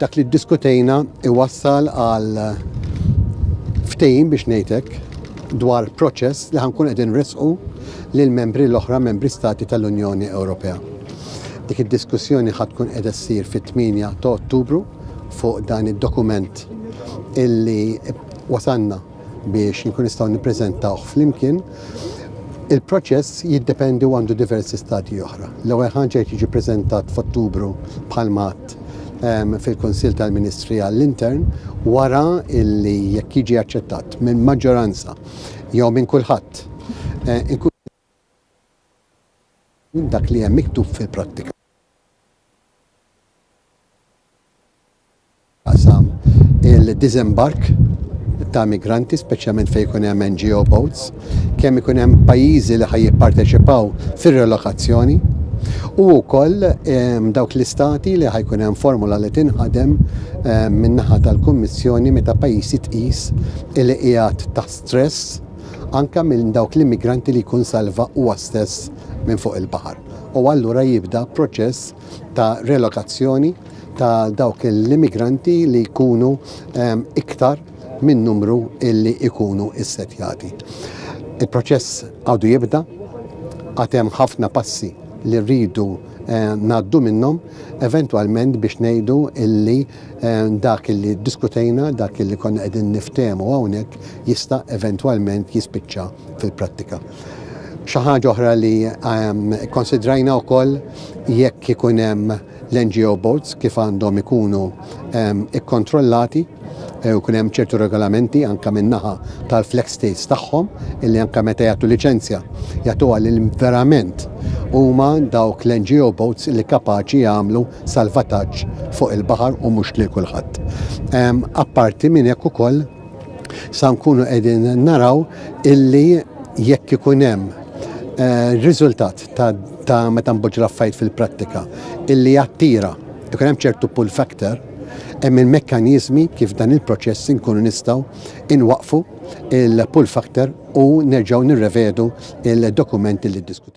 dak li ddiskutejna iwassal għal ftejn biex ngħidlek dwar proċess li ħankun qegħdin risqu lil membri l-oħra membri stati tal-Unjoni Ewropea. Dik id-diskussjoni ħad tkun qiegħda ssir fit-8 ta' Ottubru fuq dan id-dokument illi wasanna biex nkun nistgħu nippreżentawh flimkien. Il-proċess jiddependi u għandu diversi stadji oħra. L-ewwel ħaġa jrid jiġi preżentat f'Ottubru bħal mat ehm, fil-Kunsill tal-Ministri għall-Intern wara illi jekk jiġi aċċettat minn maġġoranza jew minn kulħadd eh, minn dak li hemm miktub fil-prattika f'dak li għandu x'jaqsam il-diżembark ta' migranti, speċjalment fejn ikun hemm NGO boats, kemm ikun hemm pajjiżi li ħa jipparteċipaw fir-relokazzjoni, u wkoll dawk l-Istati li ħa jkun hemm formula li tinħadem min-naħa tal-Kummissjoni meta pajjiż jitqies li qiegħed taħt stress, anke minn dawk l-immigranti li jkun salva huwa stess minn fuq il-baħar u allura jibda proċess ta' relokazzjoni ta' dawk l-immigranti li jkunu ehm, iktar minn numru illi jkunu issetjati. Il-proċess għadu jibda, għad hemm ħafna passi li rridu ngħaddu minnhom eventwalment biex ngħidu illi dak illi ddiskutejna, dak illi konna qegħdin niftehmu hawnhekk jista' eventwalment jispiċċa fil-prattika. Xi ħaġa oħra li kkonsidrajna wkoll jekk ikun hemm l-NGO boats kif għandhom ikunu ikkontrollati. Eh, u kunem ċertu regolamenti anka minnaħa tal-flex states tagħhom illi anka meta jagħtu liċenzja jagħtu għal verament huma dawk l-NGO boats li kapaċi jagħmlu salvataġġ fuq il-baħar u mhux lil kulħadd. Apparti minn hekk ukoll sa nkunu qegħdin naraw illi jekk ikun hemm eh, riżultat ta' meta mboġġ l fil-prattika illi jattira ikun hemm ċertu pull factor Hemm il-mekkaniżmi kif dan il-proċess inkunu nistgħu inwaqqfu l-pull factor u nerġgħu nirrevedu l-dokumenti li ddiskutejna.